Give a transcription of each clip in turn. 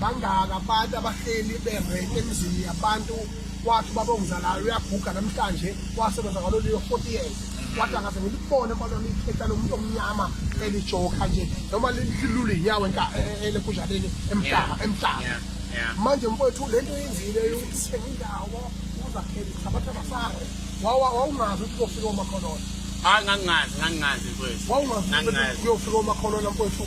bangaka abantu abahleli berent emzini yabantu wathi ubaba ongizalayo uyaguga namhlanje wasebenza ngalo leyo 40 years wathi angaze ngilibone kwalona ikhetha lomuntu omnyama elijoka nje noma lilule inyawo elephuzhaleni emhlaba emhlaba manje mfowethu le nto yenzile yokuthenga indawo uzakhele uthabatha basare wawungazi ukuthi kofika omakholona hayi ngangingazi ngangingazi mfowethu wawungazi ukuthi kuyofika omakholona mfowethu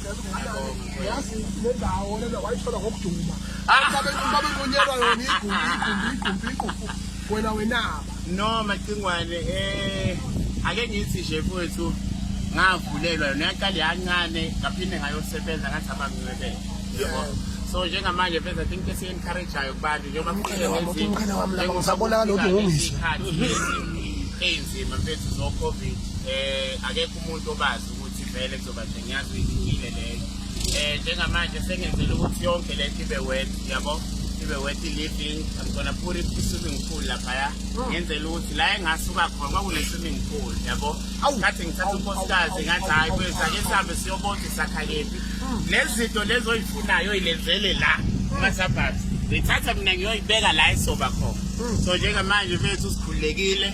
yazi le ndawo lena wayithola ngokuduma babebunyelwa yona igumbi igumbi igumbi igumbi wena wenaba no macingwane eh ake ngithi nje mfowethu ngavulelwa yona yaqale yancane ngaphinde ngayosebenza ngathi abangincebele yebo so njengamanje phela think esiyencourageayo kubantu njengoba kuqinenjengoba lokhu ngungisho eyinzima mfethu zo covid eh akekho umuntu obazi ukuthi vele kahle ngiyazi ihlukile leyo um njengamanje sengenzela ukuthi yonke le nto ibe wet yabo ibe wet living i'm gonna put it i-swimming pool laphaya hmm. ngenzela ukuthi la engasuka khona kwakune-swimming pool yabo ngathi ngithatha unkosikazi ngathi hhayi kwethu ake sihambe siyobona isakhakephi hmm. lezi zinto lezi oyifunayo oyilenzele la hmm. masabhazi ngithatha mina ngiyoyibeka la isoba khona so njengamanje bethu sikhululekile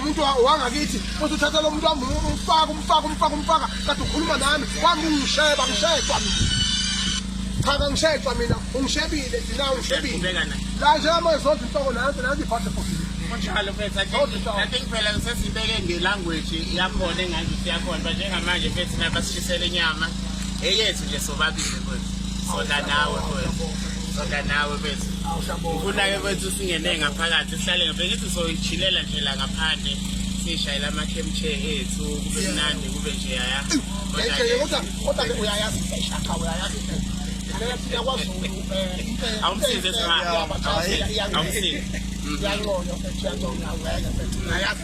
umuntu wangakithi futhi uthatha lo muntu wami umfaka umfaka umfaka umfaka kade ukhuluma nami wami ungisheba ngishejwa cha kangishejwa mina ungishebile thina ungishebile la njengamanje zonke inhloko nansi nansi iphathe futhi kunjalo mfethu kanti kuphela sesibeke ngelanguage yakhona engathi siyakhona ba njengamanje mfethu nabasishisele inyama eyethu nje sobabili mfethu sona nawe mfethu Kodwa nawe bethu. Ngifuna-ke bethu singene ngaphakathi sihlale ngibengithi soyichilela nje la ngaphandle sishayela amakhemche ethu kube mnandi kube nje yaya. Kodwa kodwa uyayazi isishaka uyayazi. Awumsize sima. Awumsize. Uyanconywa mfethu uyanconywa uyayazi.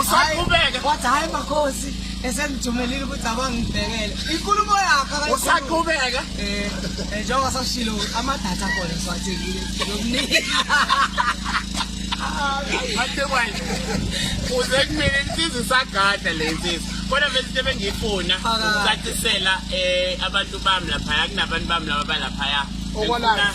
usaqhubeke wathi hayi makhosi esengithumelile ukuthi abangibhekele inkulumo yakhe usaqhubeka eh, eh njengoba sashilo amadatha khona siwathekile nokuningi Hathe kwaye. Uze kumele insizwe isagada le nsizwe. Kodwa mfethu into ebengiyifuna ukucacisela eh abantu bami lapha kunabantu bami laba balapha ya. Okwalapha.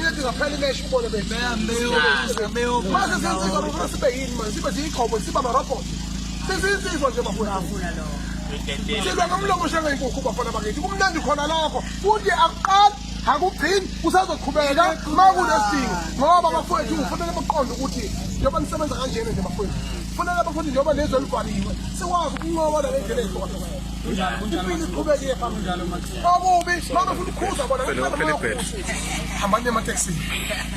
Ithi ngaphela imesh ubone bethu. Mase senzizwa bafuna sibe yini manje sibe ziyiqhobo siba marobot. Sesinsizwa nje bafuna. Silwa ngomlomo shanga inkukhu bafana bakithi. Kumnandi khona lapho. Futhi akuqali akugcini kusazoqhubeka uma kunesidingo ngoba bafowethu kufanele baqonde ukuthi njengoba nisebenza kanjena nje bafowethu kufanele bafowethu njengoba lezwe livaliwe sikwazi ukunqoba nalendlela ehlukahlukayo impilo iqhubeke iye phambili Babubi, mama futhi ukhuza bona hambani emateksini.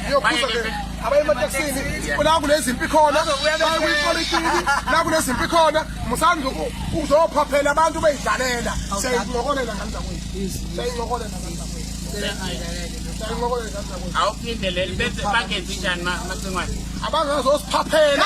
Uyokhuza ke abaye emateksini la kunezimpi khona, baye kwipolitiki la kunezimpi khona, musani uzophaphela abantu beyidlalela. Siyayincokolela ngani zakwethu. Siyayincokolela ngani zakwethu. Awuphinde leli bese bangenzi njani macingwane? Abangazosiphaphela